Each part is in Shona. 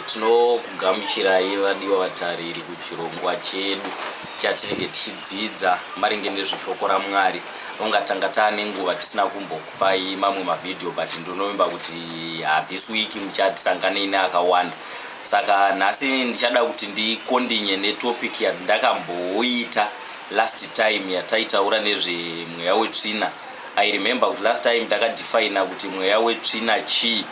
Tinokugamuchirai vadiwa vatariri kuchirongwa chedu chatinenge tichidzidza maringe nezveshoko raMwari. Ungatanga taane nguva tisina kumbokupai mamwe mavhidhiyo but ndinovimba kuti ah, this week muchatisanganei neakawanda. Saka nhasi ndichada kuti ndikondinye netopic yandakamboita last time yataitaura nezvemweya wetsvina. I remember kuti last time takadefina kuti mweya wetsvina chii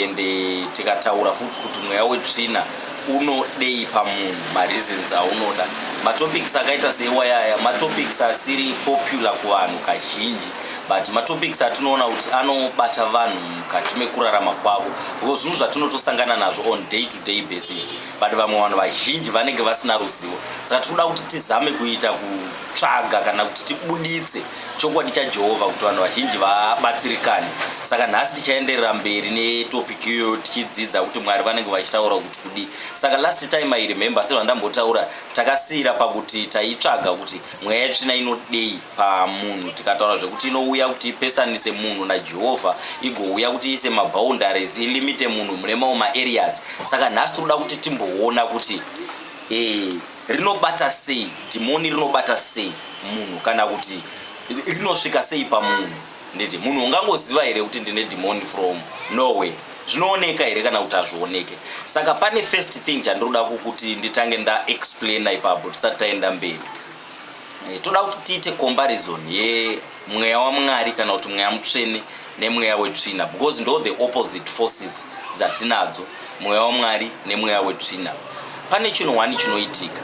and eh, tikataura futi kuti mweya wetsvina unodei pamunhu mareasons aunoda matopics akaita seiwayaya matopics asiri popular kuvanhu kazhinji but matopics atinoona kuti anobata vanhu mukati mekurarama kwavo because zvinhu zvatinotosangana nazvo on day to day basis but vamwe vanhu vazhinji vanenge vasina ruzivo saka tinoda kuti tizame kuita kutsvaga kana kuti tibuditse Chokwadi chaJehovha kuti vanhu vazhinji vabatsirikane. Saka nhasi tichaenderera mberi netopic iyoyo tichidzidza kuti Mwari vanenge vachitaura kuti kudii. Saka last time I remember sezvandambotaura takasiyira pakuti taitsvaga kuti mweya yetsvina inodei pamunhu tikataura zvekuti inouya kuti ipesanise munhu naJehovha igouya kuti iise maboundaries ilimite munhu mune mawo maareas. Saka nhasi tinoda kuti timboona kuti eh, Rinobata sei dhimoni, rinobata sei munhu kana kuti rinosvika sei pamunhu? Nditi munhu ungangoziva here kuti ndine dhimoni from nowhere? zvinooneka here kana kuti hazvioneke saka pane first thing chandinoda kukuti nditange ndaexplaina ipapo tisati taenda mberi eh, toda kuti tiite comparison ye mweya wamwari kana kuti mweya mutsvene nemweya wetsvina because ndo the opposite forces dzatinadzo mweya wamwari nemweya wetsvina pane chinhu wani chinoitika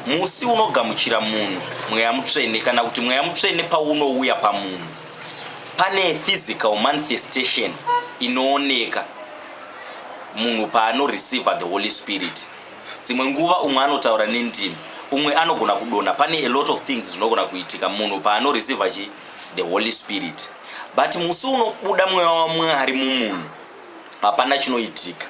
musi unogamuchira munhu mweya mutsvene kana kuti mweya mutsvene paunouya pamunhu pane physical manifestation inooneka munhu paanoreceiver the holy spirit Dzimwe nguva umwe anotaura nendimi, umwe anogona kudonha. Pane a lot of things zvinogona kuitika munhu paanoreceiva chi the Holy Spirit. But musi unobuda mweya waMwari mumunhu, hapana chinoitika.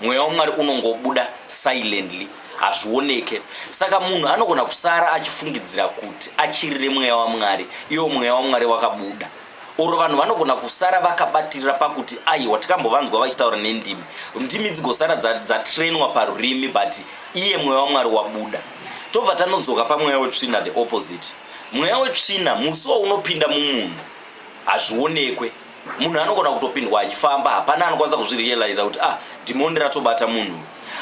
Mweya waMwari unongobuda silently, hazvioneke. Saka munhu anogona kusara achifungidzira kuti achirire mweya waMwari, iwo mweya waMwari wakabuda. or vanhu vanogona kusara vakabatirira pakuti aiwa tikambovanzwa vachitaura nendimi ndimi dzigosara dzatrainwa dza parurimi but iye mweya wamwari wabuda tobva tanodzoka pamweya wetsvina the opposite mweya wetsvina musi waunopinda mumunhu hazvionekwe munhu anogona kutopindwa achifamba hapana anokwanisa kuzvirealiza kuti ah dhimoni ratobata munhu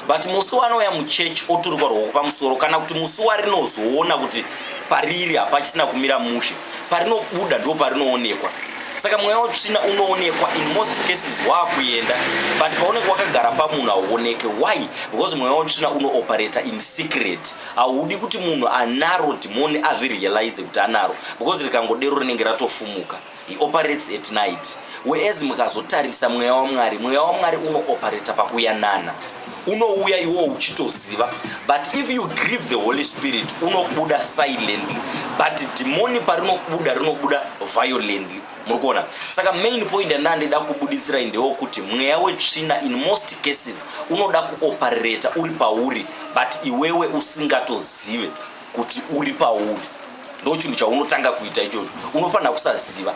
but musi wanouya muchechi oturikwa rwoko pamusoro kana kuti musi warinozoona kuti pariri hapachisina kumira mushe parinobuda ndo parinoonekwa saka mweya wetsvina unoonekwa in most cases waakuenda but paunenge wakagara pamunhu hauoneke why because mweya wetsvina unooperata in secret haudi kuti munhu anaro dhimoni azvirealize kuti anaro because rikangodero rinenge ratofumuka He operates at night whereas mukazotarisa mweya wamwari mweya wamwari unooperata pakuyanana unouya iwo uchitoziva but if you grieve the holy spirit unobuda silently but dhimoni parinobuda rinobuda violently muri kuona saka main point yandina ndida kubudisirai ndewo kuti mweya wetsvina in most cases unoda kuoperata uri pauri but iwewe usingatozive kuti uri pauri ndochinhu chaunotanga kuita ichocho unofanira kusaziva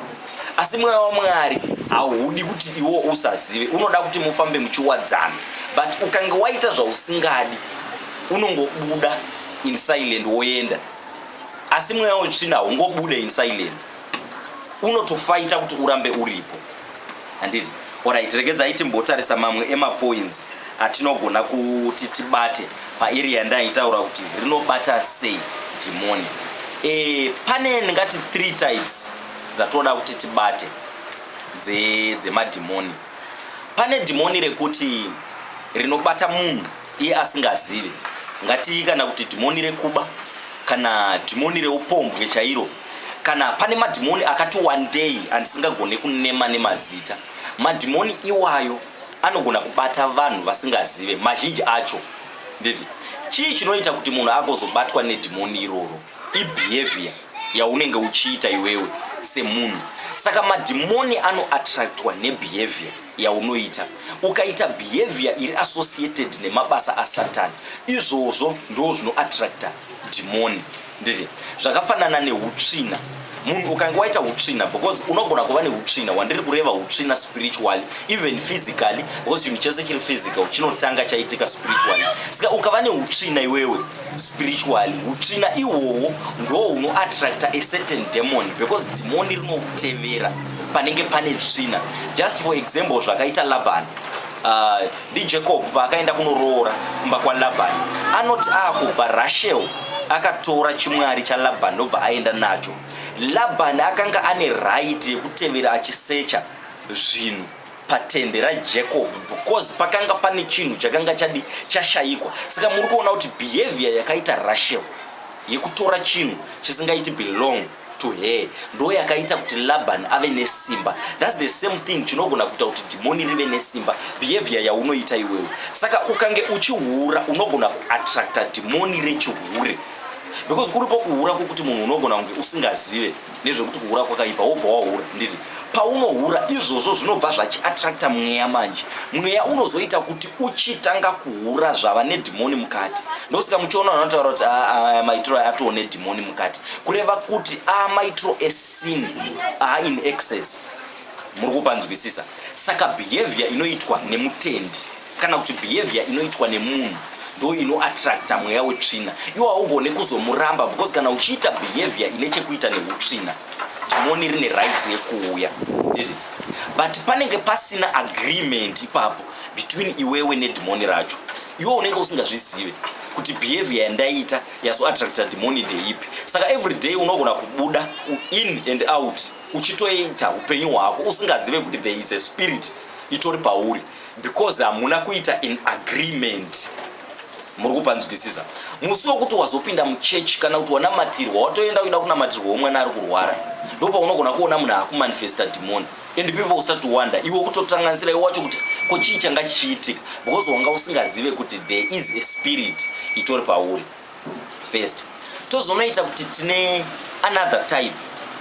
asi mweya wamwari haudi kuti iwo usazive unoda kuti mufambe muchiwadzana but ukange waita zvausingadi unongobuda in silent woenda asi mweya wetsvina haungobude in silent unotofaita kuti urambe uripo handiti orit regedzai timbotarisa mamwe emapoints atinogona kuti tibate paarea yandaitaura kuti rinobata sei dhimoni e, pane ndingati three types dzatoda kuti tibate dzemadhimoni dze pane dhimoni rekuti rinobata munhu iye asingazive ngatii kana kuti dhimoni rekuba kana dhimoni reupombwe chairo kana pane madhimoni akati one day andisingagone kunema nemazita madhimoni iwayo anogona kubata vanhu vasingazive mazhinji acho nditi chii chinoita kuti munhu agozobatwa nedhimoni iroro ibehavior yaunenge uchiita iwewe semunhu saka madhimoni anoattractwa nebehavior yaunoita ukaita behavior iri associated nemabasa asatani izvozvo ndoo zvinoattracta dhimoni Nditi zvakafanana neutsvina munhu ukange waita utsvina because unogona kuva neutsvina wandiri kureva utsvina spiritually even physically because chinhu chese chiri physical chinotanga chaitika spiritually saka ukava neutsvina iwewe spiritually utsvina ihwohwo ndo unoattracta a certain demon because dhimoni rinotevera panenge pane tsvina just for example zvakaita labani Ah, ndijacob paakaenda kunoroora kumba kwalabhani anoti akubva rashel akatora chimwari chalabhani ndobva aenda nacho labhani akanga ane raiti yekutevera achisecha zvinhu patende rajacob because pakanga pane chinhu chakanga chadi chashayikwa saka muri kuona kuti behavior yakaita rashel yekutora chinhu chisingaiti belong to her ndo yakaita kuti laban ave nesimba thats the same thing chinogona kuita kuti dhimoni rive nesimba behavior yaunoita iwewe saka ukange uchihura unogona kuattracta dhimoni rechihure because kuripo kuhura kwokuti munhu unogona kunge usingazive nezvekuti kuhura kwakaipa wobva wahura nditi paunohura izvozvo zvinobva zvachiattracta mweya manje mweya unozoita kuti uchitanga kuhura zvava nedhimoni mukati ndosika muchiona vanotaura kuti ah, ah, aya maitiro aya atoo nedhimoni mukati kureva kuti a ah, maitiro esin a in excess muri kupanzwisisa saka behavior inoitwa nemutendi kana kuti behavior inoitwa nemunhu ndo inoattracta mweya wetsvina iwo haugone kuzomuramba because kana uchiita behavior ine chekuita neutsvina dhimoni rine right rekuuya but panenge pasina agreement ipapo between iwewe nedhimoni racho iwe unenge usingazvizive kuti behavior yandaiita yazoattracta dhimoni ndeipi saka every day unogona kubuda in and out uchitoita upenyu hwako usingazive kuti there is a spirit itori pauri because hamuna kuita in agreement muri kupanzwisisa musi wekuti wazopinda muchechi kana kuti wanamatirwa watoenda kuida kunamatirwa wemwana ari kurwara ndopa unogona kuona munhu akumanifesta dhimoni and people start to wonder iwe kutotanganisira iwe wacho kuti ko chii changa chichiitika because wanga usingazive kuti there is a spirit itori pauri first tozonoita kuti tine another type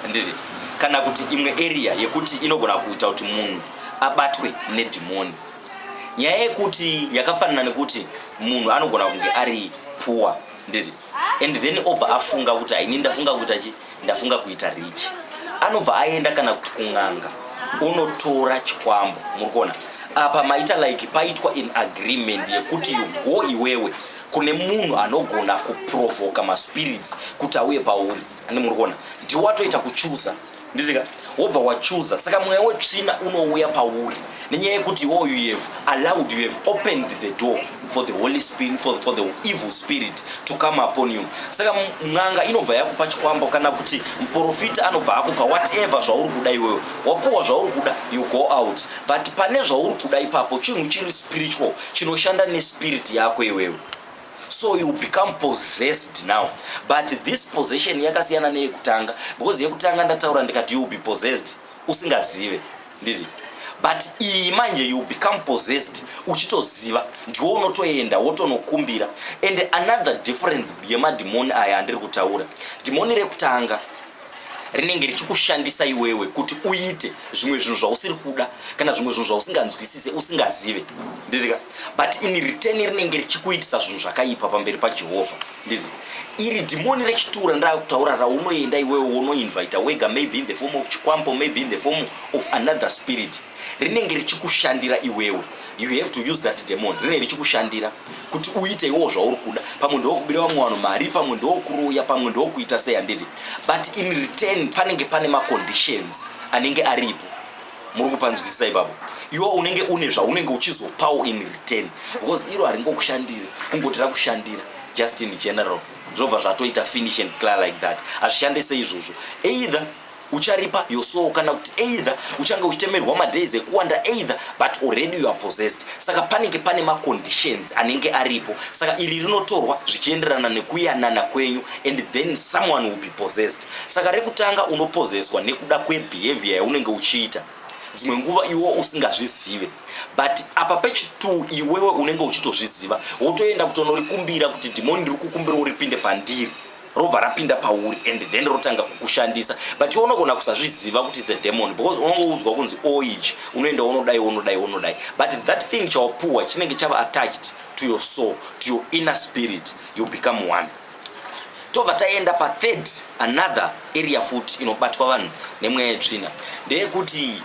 ndiri kana kuti imwe area yekuti inogona kuita kuti munhu abatwe nedhimoni nyaya yekuti yakafanana nekuti munhu anogona kunge ari poor ndiri and then obva afunga kuti haini ndafunga kuita chi ndafunga kuita rich anobva aenda kana kuti kun'anga unotora chikwambo muri kuona apa maita like paitwa in agreement yekuti you go iwewe kune munhu anogona kuprovoka maspirits kuti auye pauri ane muri kuona ndiwo watoita kuchuza nditika wobva wachuza saka mweya wetsvina unouya pauri nenyaya yekuti iwo you have allowed you have opened the door for the holy spirit for, for the evil spirit to come upon you saka n'anga inobva yakupa chikwambo kana kuti muprofita anobva akupa whatever zvauri kuda iwewe wapuwa zvauri kuda you go out but pane zvauri kuda ipapo chinhu chiri spiritual chinoshanda nespirit yako iwewe so you become possessed now but this possession yakasiyana neyekutanga because yekutanga ndataura ndikati you be possessed usingazive nditi but iyi manje you become possessed uchitoziva ndiwo unotoenda wotonokumbira and another difference yemadhimoni aya andiri kutaura dhimoni rekutanga rinenge richikushandisa iwewe kuti uite zvimwe zvinhu zvausiri kuda kana zvimwe zvinhu zvausinganzwisise usingazive nditika but in return rinenge richikuitisa zvinhu zvakaipa pamberi pajehovha nditi iri dhimoni rechitura ndakutaura raunoenda iwewe wonoinvita wega maybe in the form of chikwambo maybe in the form of another spirit rinenge richikushandira iwewe you have to use that demon rinenge richikushandira kuti uite iwowo zvauri kuda pamwe ndokubira vamwe vanhu mari pamwe ndokuroya pamwe ndokuita sei handiti but in return panenge pane maconditions anenge aripo muri kupanzwisisa ipapo iwo unenge une zvaunenge uchizopawo in return because iro haringokushandiri kungoti rakushandira just in general zvobva zvatoita finish and clear like that hazvishande seizvozvo either ucharipa your soul kana kuti either uchange uchitemerwa madays ekuwanda either but already you are possessed saka panenge pane maconditions anenge aripo saka iri rinotorwa zvichienderana nekuyanana kwenyu and then someone will be possessed saka rekutanga unopozeswa nekuda kwebehavior yaunenge uchiita dzimwe nguva iwo usingazvizive but apa pechitwo iwewe unenge uchitozviziva wotoenda kutonorikumbira kuti dhimoni riri kukumbira uripinde pandiri robva rapinda pauri and then rotanga kukushandisa but iwe unogona kusazviziva kuti its a demon because unongoudzwa kunzi oich oh, unoenda unodai unodai unodai but that thing chawapuwa chinenge chava attached to your soul to your inner spirit you become one tobva taenda pathird another area futi inobatwa vanhu nemweya yetsvina ndeyekuti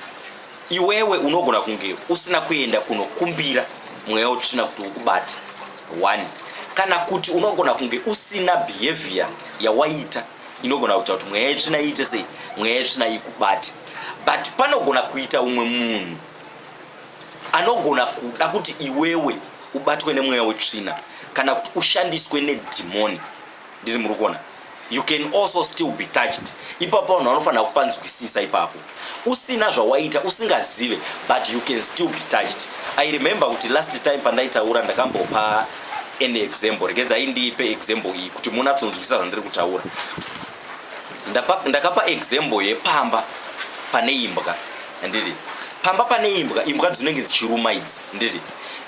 iwewe unogona kunge usina kuenda kunokumbira mweya utsvina kuti ukubate one kana kuti unogona kunge usina behavior yawaita inogona kuita kuti mweya yetsvina iite sei mweya yetsvina ikubate but panogona kuita umwe munhu anogona kuda kuti iwewe ubatwe nemweya wetsvina kana kuti ushandiswe nedhimoni ndizvi muri kuona you can also still be touched ipapo vanhu vanofanira kupanzwisisa ipapo usina zvawaita usingazive but you can still be touched i remember kuti last time pandaitaura ndakambopa any example rekedza indiipe example iyi kuti munatsonzwisisa zvandiri kutaura ndakapa example yepamba pane imbwa handiti pamba pane imbwa imbwa dzinenge dzichiruma idzi handiti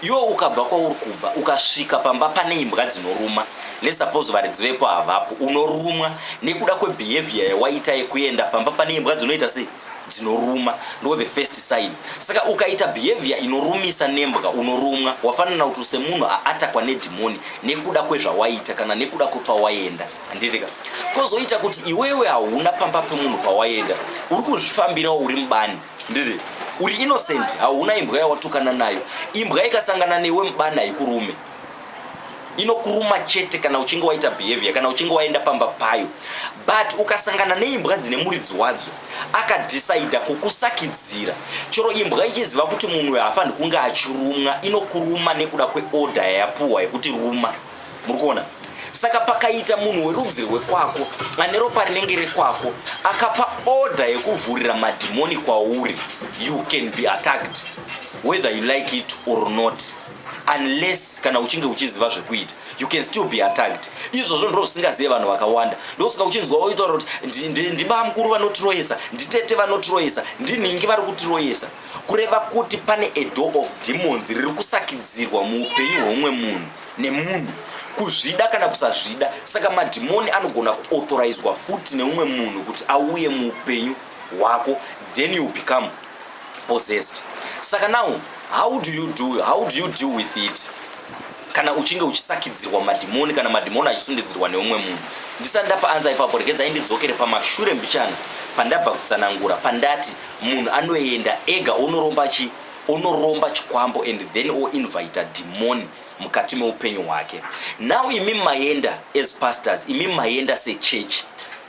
yo ukabva kwauri kubva ukasvika pamba pane imbwa dzinoruma lesuppose varidzi vepo havapo unorumwa nekuda kwebehavior yawaita yekuenda pamba pane imbwa dzinoita sei dzinoruma ndo the first sign saka ukaita behavior inorumisa nembwa unorumwa wafanana kuti semunhu aatakwa nedhimoni nekuda kwezvawaita kana nekuda kwepawaenda handitika kozoita kuti iwewe hauna pamba pemunhu pawaenda uri kuzvifambirawo uri mubani Ndiri uri innocent hauna imbwa yawatukana nayo imbwa ikasangana newe mubana haikurume inokuruma chete kana uchinge waita behavior kana uchinge waenda pamba payo but ukasangana neimbwa dzine muridzi wadzo akadhisaidha kukusakidzira chero imbwa ichiziva kuti munhu uyo haafaniri kunge achirumwa inokuruma nekuda kweorder yayapuhwa yekuti ruma muri kuona saka pakaita munhu werudzi rwekwako ane ropa rinenge rekwako akapa order yekuvhurira madhimoni kwauri you can be attacked whether you like it or not unless kana uchinge uchiziva zvekuita you can still be attacked izvozvo ndiro zvisingazive vanhu vakawanda ndosaka uchinzwa woitaura kuti ndibamukuru vanotiroyesa nditete vanotiroyesa ndinhingi vari kutiroyesa kureva kuti pane a door of demons riri kusakidzirwa muupenyu hweumwe munhu nemunhu kuzvida kana kusazvida saka madhimoni anogona kuauthorizewa futi neumwe munhu kuti auye muupenyu hwako then you become possessed saka now how do you do how do you deal with it kana uchinge uchisakidzirwa madhimoni kana madhimoni achisundidzirwa neumwe munhu ndisati ndapa anza ipapo regedzai ndidzokere pamashure mbichana pandabva kutsanangura pandati munhu anoenda ega onoromba chi onoromba chikwambo and then oinvita dhimoni mukati meupenyu hwake now imi maenda as pastors imi maenda sechechi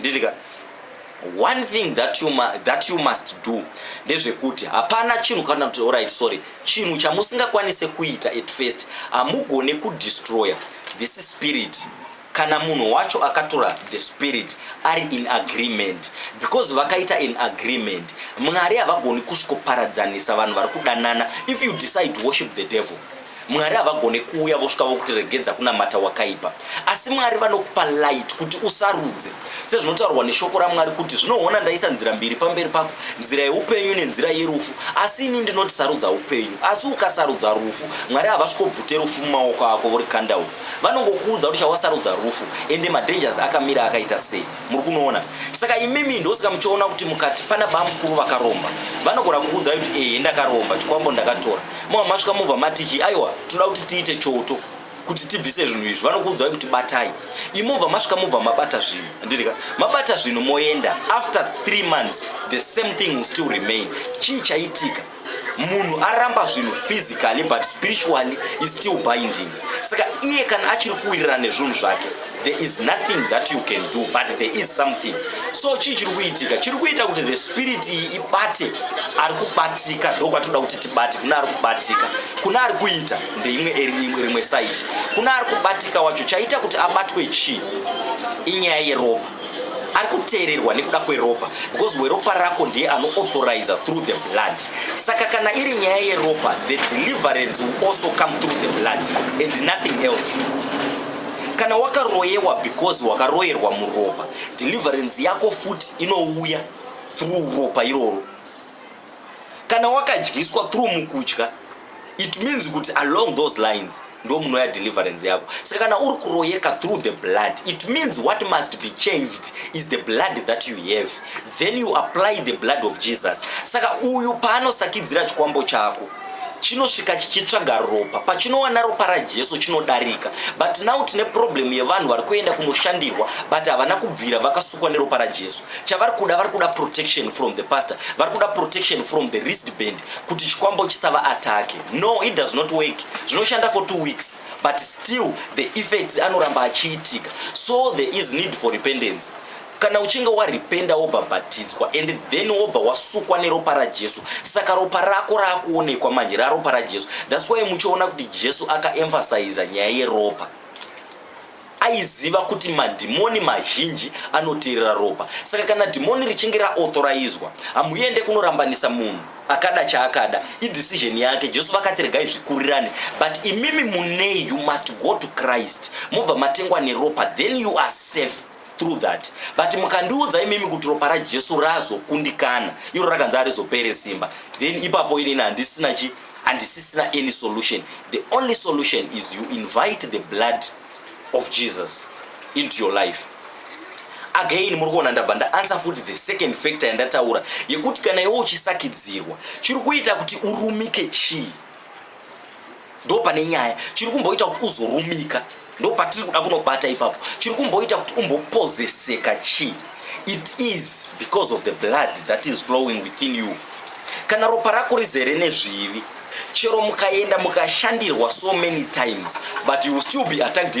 nditika one thing that you, that you must do ndezvekuti hapana chinhu kana kuti alright sorry chinhu chamusingakwanise kuita at first hamugone kudestroya this spirit kana munhu wacho akatora the spirit ari in agreement because vakaita an agreement mwari havagoni kusvikoparadzanisa vanhu vari kudanana if you decide to worship the devil Mwari havagone kuuya vosvika vokutiregedza kunamata wakaipa, asi Mwari vanokupa light kuti usarudze, sezvinotaurwa neshoko raMwari kuti zvinoona ndaisa nzira mbiri pamberi pako, nzira yeupenyu nenzira yerufu, asi ini ndinoti sarudza upenyu. Asi ukasarudza rufu, Mwari havasvikobvute rufu mumaoko ako vorikanda uko, vanongokuudza kuti chawasarudza rufu, ende madangers akamira akaita sei. muri kunoona saka imimi ndosaka muchiona kuti mukati pana bamukuru vakaromba vanogona kukuudzai kuti ehe ndakaromba chikwambo ndakatora mava masvika mubva matiki aiwa tinoda kuti tiite choto kuti tibvise zvinhu izvi vanokuudzai kuti batai imobva masvika mubva mabata zvinhu ndirika mabata zvinhu moenda after three months the same thing will still remain chii chaitika munhu aramba zvinhu physically but spiritually is still binding saka iye kana achiri kuwirirana nezvinhu zvake there is nothing that you can do but there is something so chii chiri kuitika chiri kuita kuti the spirit iyi ibate ari kubatika ndo kwatinoda kuti tibate kuna ari kubatika kuna ari kuita ndeimwe rimwe side kuna ari kubatika wacho chaita kuti abatwe chii inyaya yeropa ari kuteererwa nekuda kweropa because weropa rako ndiye anoauthoriza through the blood saka kana iri nyaya yeropa the deliverance will also come through the blood and nothing else kana wakaroyewa because wakaroyerwa muropa deliverance yako futi inouya through ropa iroro kana wakadyiswa through mukudya it means kuti along those lines ndo munoya deliverance yako saka kana uri kuroyeka through the blood it means what must be changed is the blood that you have then you apply the blood of jesus saka uyu paanosakidzira chikwambo chako chinosvika chichitsvaga ropa pachinowana ropa rajesu chinodarika but now tine problem yevanhu vari kuenda kunoshandirwa but havana kubvira vakasukwa neropa rajesu chavari kuda vari kuda protection from the pastor vari kuda protection from the wrist band kuti chikwambo chisava atake no it does not work zvinoshanda for two weeks but still the effects anoramba achiitika so there is need for repentance kana uchinge waripenda wobhabhatidzwa and then wobva wasukwa neropa rajesu saka ropa rako raakuonekwa manje raropa rajesu thats why muchiona kuti jesu akaemfasiza nyaya yeropa aiziva kuti madhimoni mazhinji anoteerera ropa saka kana dhimoni richinge raauthorayizwa hamuende kunorambanisa munhu akada chaakada idecision yake jesu vakati regai zvikurirane but imimi munei you must go to christ mobva matengwa neropa then you are safe through that but mukandiudza imimi kuti ropa rajesu razokundikana iro rakanzi arizopere simba then ipapo inini handisina chi handisisina any solution the only solution is you invite the blood of jesus into your life again muri kuona ndabva ndaansa futi the second factor yandataura yekuti kana iwe uchisakidzirwa chiri kuita kuti urumike chii ndo pane nyaya chiri kumboita kuti uzorumika ndo patiri kuda kunobata ipapo chiri kumboita kuti umbopozeseka chii it is because of the blood that is flowing within you kana ropa rako rizere nezvivi chero mukaenda mukashandirwa so many times but you will still be attacked in